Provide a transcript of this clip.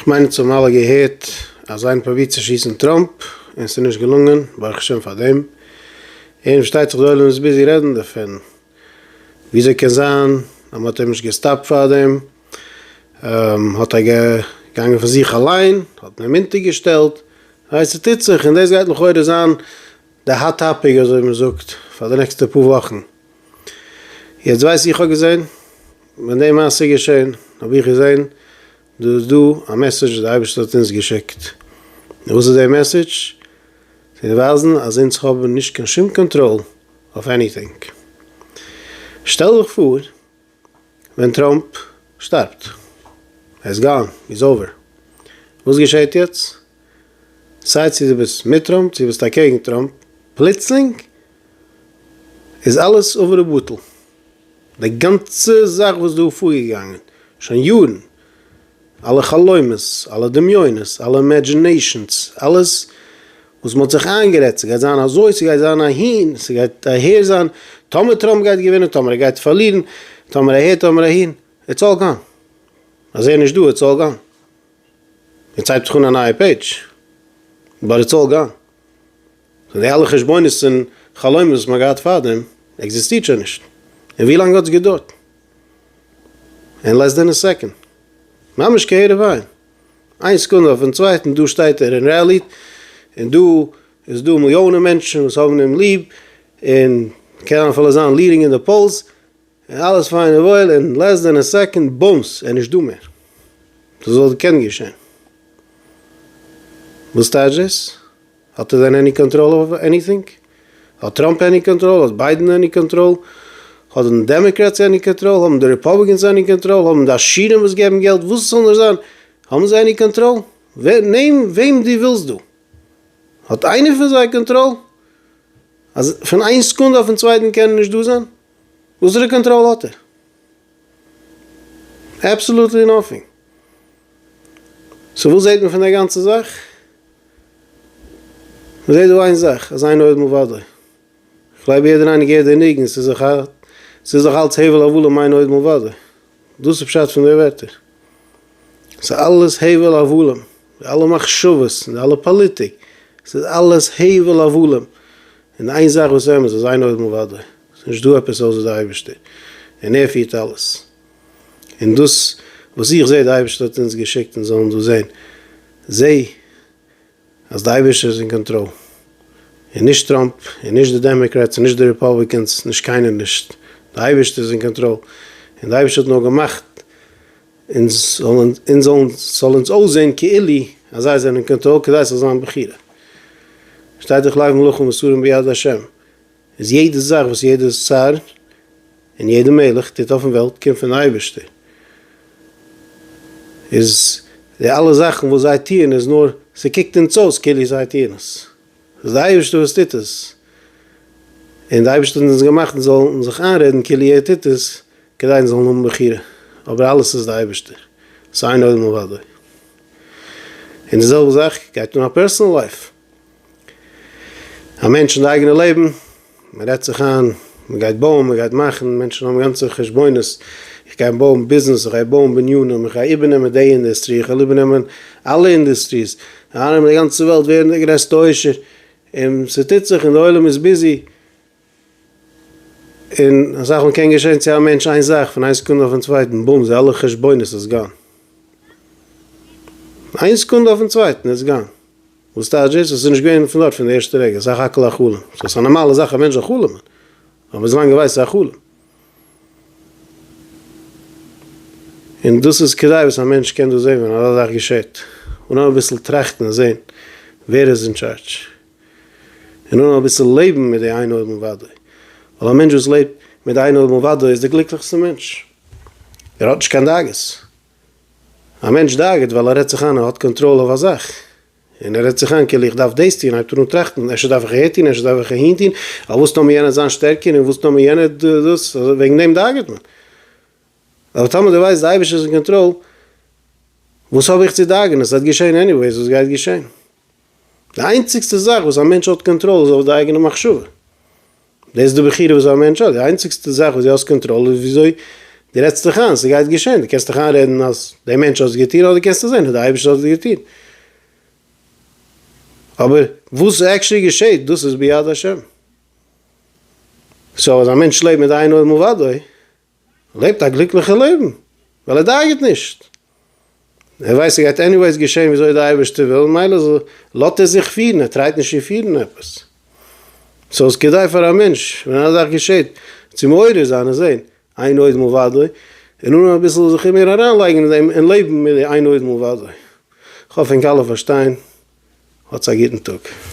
כ'מיין אונז האבן אלע געהערט אז איינער פרובירט צו שיסן טראמפ און ס'איז נישט געלונגען, ברוך השם פאר דעם. און פארשטייט זיך די עולם איז ביזי רעדן דערפון, וויאזוי קען זיין אז מ'האט אים נישט געסטאפט פאר דעם, האט ער געגאנגען פון זיך אליין, האט מען אים אונטערגעשטעלט, ווייסט ס'טוט זיך, און דאס גייט לכאורה זיין. די האט טאפיק אזוי מען זאגט פאר די נעקסטע פאר וואכן. יעצט ווייס איך האב געזען ווען די מעשה איז געשען האב איך געזען דא איז דא א מעסעדזש וואס די אייבערשטער האט אונז געשיקט. און וואס איז די מעסעדזש? צו ווייזן אז אונז האבן נישט קיין שום קאנטראל אויף עניטינג. שטעל דיך פאר ווען טראמפ שטארבט. ער איז גאן, איז אווער. וואס געשעהט יעצט? סיי צו דו ביסט מיט טראמפ צו ביסט אקעגן טראמפ, פלוצלינג איז אלעס עבר ובטל. די גאנצע זאך וואס דא פארגעגאנגען שוין יארן, אלע חלומות, אלע דמיונות, אלע אימעדזשינעישאנס, אלעס וואס מ'האט זיך איינגערעדט, ס'גייט זיין אזוי, ס'גייט זיין אהין, ס'גייט אהער זיין, טאמער טראמפ גייט געווינען, טאמער ער גייט פארלירן, טאמער אהער, טאמער אהין, איטס אלל גאן. אז ער נישט דא, איטס אלל גאן. יעצט הייבט זיך אן א נייע פעידזש, באט איטס אלל גאן. סאו די אלע חשבונות און חלומות וואס מ'האט געהאט פארדעם, עקזיסטירט שוין נישט. און ווי לאנג האטס געדארט? אין לעס דען א סעקאנד. ממש כהרף עין. איין סעקונדע אויפן צווייטן דא שטייט ער און רעלי'ט און דא איז דא מיליאנען מענטשן וואס האבן אים ליב און קען אפילו זיין ליעדינג אין די פאולס און אלעס פיין און וואויל אין לעס דען א סעקאנד בומס ער נישטא מער. דאס וואלט געקענט געשען? וואס טייטש דאס? האט ער דען עני קאנטראל אויף עניטינג? האט טראמפ עני קאנטראל? האט ביידען עני קאנטראל? האבן די דעמעקרעטס עני קאנטראל? האבן די ריפאבליקענס עני קאנטראל? האבן די עשירים וואס געבן געלט וואס עס זאל נאר זיין האבן זיי עני קאנטראל? נעם וועם דו ווילסט דא. האט איינער פון זיי קאנטראל? אז פון איין סקונדע אויפן צווייטן קען ער נישט דא זיין? וואסערע קאנטראל האט ער? אבסעלוטלי נאטינג! סאו וואס זעהט מען פון די גאנצע זאך? מען זעהט דא איין זאך אז אינו עד מלבדו. כ'גלייב יעדער איינער געהערט די ניגון ס'איז דאך ס'איז דאך אלץ הבל הבלים אינו עד מלבדו. דאס איז פשט פון די ווערטער. ס'איז אלעס הבל הבלים. די אלע מחשבות און די אלע פאליטיק. ס'איז אלעס הבל הבלים. און איין זאך וואס אמת, אז איין אויבן אוודאי, עס איז נישט דא עפעס אויסער די אייבערשטער, און ער פירט אלעס, און דאס וואס איך זעה, די אייבערשטער האט אונז געשיקט אונז זאלן דאס זען, זע אז די אייבערשטער איז אין קאנטראל, און נישט טראמפ, און נישט די דעמעקרעטס, און נישט די ריפאבליקענס, נישט קיינער נישט, די אייבערשטער איז אין קאנטראל, און די אייבערשטער האט נאר געמאכט אונז זאלן אונז זאל אונז אויסזען כאילו אז זיי זענען קאנטראל כדי ס'זאל זיין בחירה. פארשטייט זיך לייגן מלכים מסורים ביד השם איז יעדע זאך וואס יעדע שר און יעדע מלך טוט אויפן וועלט קומט פון אייבערשטער איז די אלע זאכן וואס זיי טוען איז נאר ס'קוקט אונז אויס כאילו זיי טוען עס. ס'איז דער אייבערשטער וואס טוט עס, און דער אייבערשטער האט אונז געמאכט אונז זאלן זיך איינרעדן כאילו ער טוט עס כדי אונז זאלן האבן בחירה, אבער אלעס איז דער אייבערשטער, ס'איז איין עולם אוודאי. און די זעלבע זאך גייט אן א פערסאנעל לייף, א מענטש אין די אייגענע לעבן מען רעדט זיך איין, מען גייט בויען, מען גייט מאכן, מענטשן האבן גאנצע חשבונות, איך גיי בויען ביזנעס, איך גיי בויען בנינים, איך גיי איבערנעמען די אינדוסטרי, איך וועל איבערנעמען אלע אינדוסטריס, ארום די גאנצע וועלט ווערן די גרעסטע עושר, און ס'טוט זיך און די עולם איז ביזי, און אסאך מאל קען געשען צו א מענטש איין זאך פון איין סעקונדע אויפן צווייטן בום זיי אלע חשבונות איז גאן, איין סעקונדע אויפן צווייטן איז גאן. וואס טייטש דאס? עס איז נישט געווען פון דארט פון די ערשטע רגע, סך הכל א חלום. סאו עס איז א נארמאלע זאך א מענטש זאל חלומ'ן, אבער וויזלאנג ער ווייסט ס'איז א חלום. און דאס איז כדי וואס א מענטש קען דאס זען ווען אזא זאך געשעט, און נאר אביסל טראכטן און זען ווער איז אין טשארדש, און נאר אביסל לעבן מיט די איין אויג מלבדו, ווייל א מענטש וואס לעבט מיט די איין אויג מלבדו איז די גליקליכסטע מענטש, ער האט נישט קיין דאגות. א מענטש דאגה'ט ווייל ער רעדט זיך איין ער האט קאנטראל אויף א זאך, און ער רעדט זיך איין כאילו איך דארף דאס טון, הייבט ער אן טראכטן, אפשר דארף איך אהער טון, אפשר דארף איך אהין טון, ווייל וואס טאר מיר יענער זיין שטערקער, און וואס טאר מיר יענער דאס, וועגן דעם דאגה'ט מען. אבער טאמער דו ווייסט די אייבערשטער איז אין קאנטראל, וואס האב איך צו דאגה'ן, עס וועט געשען עניוועיס וואס גייט געשען. די איינציגסטע זאך וואס א מענטש האט קאנטראל איז אויף די אייגענע מחשבה, דאס איז די בחירה וואס א מענטש האט, די איינציגסטע זאך וואס די האסט קאנטראל איז וויאזוי די רעדסט זיך איין, ס'גייט געשען, די קענסט דיך איינרעדן אז די מענטש האט עס געטון אדער קענסטו זען אז די אייבערשטער האט עס געטון, אבער וואס עקשעלי געשעט דאס איז ביד השם, סאו אז א מענטש לעבט מיט איין אויבן אוודאי לעבט א גליקליכע לעבן, ווייל ער דאגה'ט נישט, ער ווייסט ס'גייט עניוועיס געשען וויאזוי די אייבערשטער וויל, מילא לאזט ער זיך פירן, ער טרייט נישט צו פירן עפעס. סאו איז כדאי פאר א מענטש ווען אזא זאך געשעט צו מעורר זיין און זען איין עוד מלבדו, און אן אביסל זיך מער אריינלייגן אין דעם און לעבן מיט די איין עוד מלבדו. כ'האף ענק אלע פארשטיין. האטס א גוטן טאג.